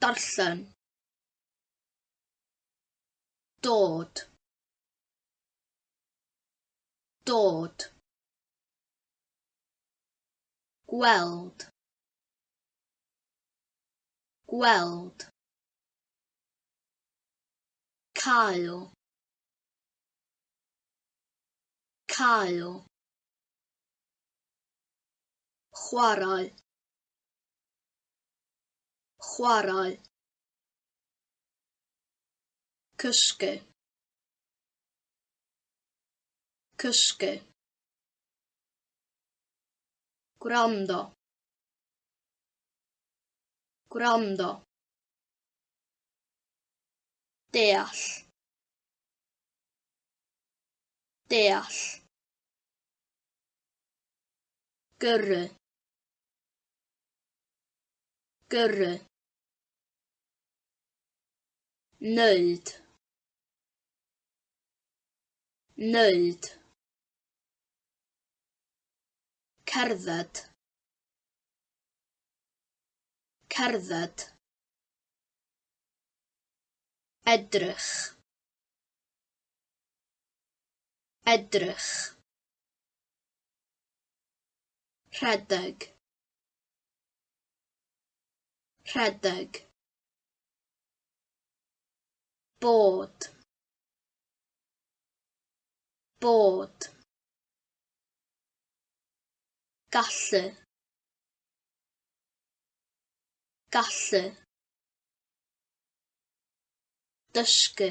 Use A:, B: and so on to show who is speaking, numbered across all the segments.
A: Darllen. Dod. Dod. Gweld. Gweld. Cael. Cael. Chwarae. Chwarae. Cysgu. Cysgu. Gwrando. Gwrando. Deall. Deall. Gyrru. Gyrru. Wneud. Wneud. Cerdded. Cerdded. Edrych. Edrych. rhedeg rhedeg bod bod gallu gallu dysgu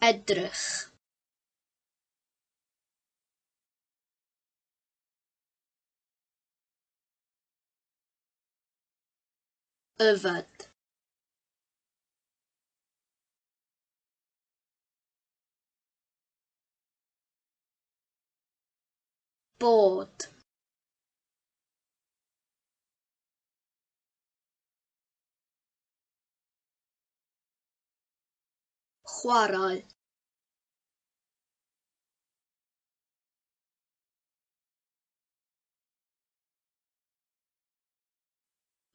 A: edrych. yfed bod Chwarae.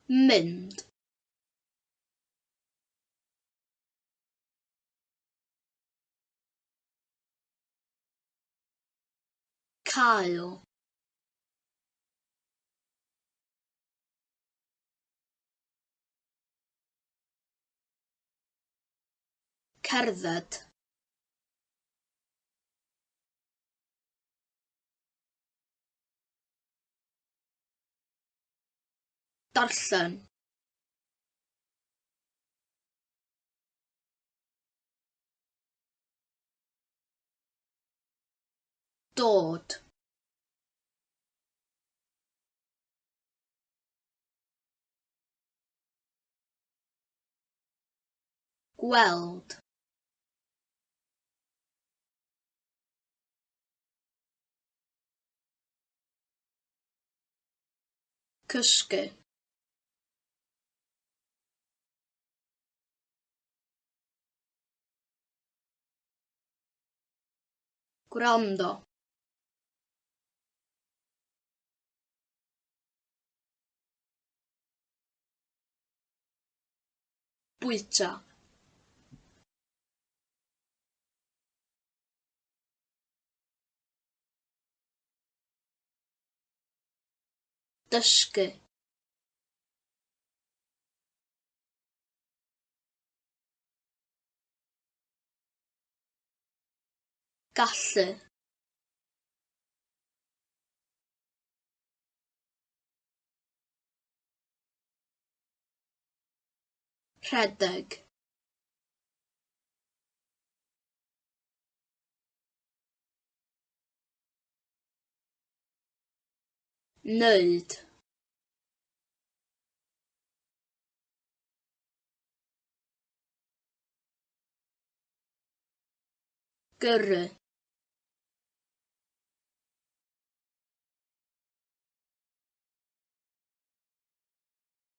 A: Mynd. Cael. Cerdded. Darllen. Dod. Gweld. Cysgu. Gwrando. bwyta. dysgu. gallu. Rhedeg. Wneud. Gyrru.